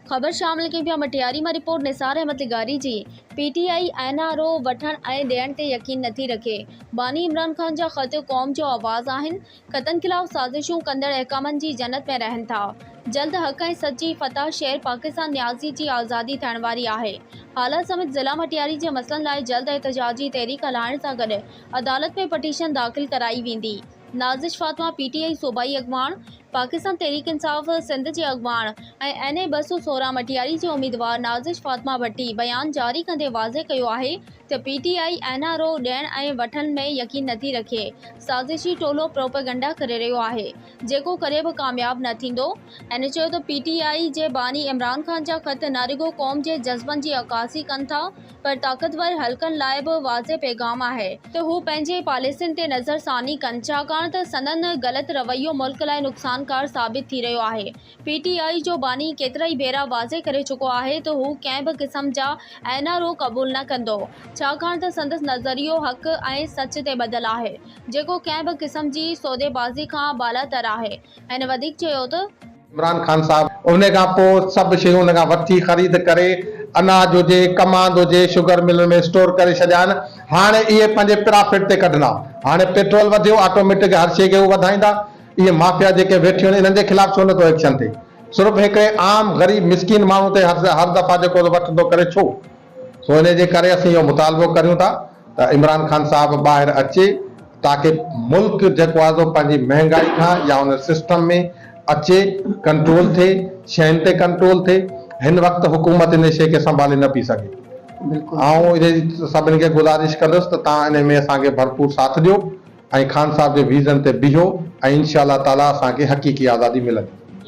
خبر شام لکين پيا مٽياري مان رپورٽ نثار احمد لغاري جي P T I N R O وٺڻ ۽ ڏيڻ تي يقين نٿي رکي باني عمران خان جا خط قوم جو آواز آهن خطن خلاف سازشون ڪندڙ احڪامن جي جنت ۾ رهن ٿا جلد حق ۽ سچ جي فتح شير پاڪستان نيازي جي آزادي ٿيڻ واري آهي هالا سميت ضلع مٽياري جي مسئلن لاء جلد احتجاجي تحريڪ هلائڻ سان گڏ عدالت ۾ پٽيشن داخل ڪرائي ويندي نازش فاطمه پي ٽي آء صوبائي اڳواڻ، پاڪستان تحريڪ انصاف سنڌ جي اڳواڻ ۽ اين اي ٻه سؤ سورهن مٽياري جي اميدوار نازش فاطمه ڀٽي بيان جاري ڪندي واضح ڪيو آهي ته P T I N R O ڏيڻ ۽ وٺڻ ۾ يقين نٿي رکي سازشي ٽولو پروپيگنڊا ڪري رهيو آهي جيڪو ڪڏهن به ڪامياب نه ٿيندو هن چيو ته پي ٽي آء جي باني عمران خان جا خط نه رڳو قوم جي جذبن جي عڪاسي ڪن ٿا پر طاقتور حلقن لاء به واضح پيغام آهي ته هو پنهنجي پاليسين تي نظر ثاني ڪن ڇاڪاڻ ته سندن غلط رويو ملڪ لاء نقصانڪار ثابت ٿي رهيو آهي پي ٽي آء جو باني ڪيترائي ڀيرا واضح ڪري چڪو آهي ته هو ڪنهن به قسم جا اين آر او قبول نه ڪندو ڇاڪاڻ ته سندس نظريو حق ۽ سچ تي ٻڌل آهي جيڪو ڪنهن به قسم جي سوديبازي کان بالاتر آهي هن وڌيڪ چيو ته عمران خان صاحب ان کان پوء سڀ شيون ان کان وٺي خريد ڪري اناج هجي ڪماند هجي شگر ملن ۾ اسٽور ڪري ڇڏيائين هاڻ اهي پنهنجي پرافٽ تي ڪڍندا هاڻي پيٽرول وڌيو آٽوميٽڪ هر شي کي هو وڌائيندا اهي مافيا جيڪي ويٺيون آهن انهن جي خلاف ڇو نٿو ايڪشن ٿئي صرف هڪڙي عام غريب مسڪين ماڻهو تي هر دفعا جيڪو وٺندو ڪري ڇو سو انهي جي ڪري اسين اهو مطالبو ڪريون ٿا ته عمران خان صاحب ٻاهر اچي تاڪي ملڪ جيڪو آهي سو پنهنجي مهنگائي کان يا ان سسٽم ۾ اچي ڪنٽرول ٿئي شين تي ڪنٽرول ٿئي هن وقت حڪومت انهي شي کي سنڀالي نه پئي سگهي آئون انهي سڀني کي گذارش ڪندس ته تان انهي ۾ اسان کي ڀرپور ساٿ ڏيو ۽ خان صاحب جي ويزن تي بيهو ۽ انشاء الله تعالي اسان کي حقيقي آزادي ملندي.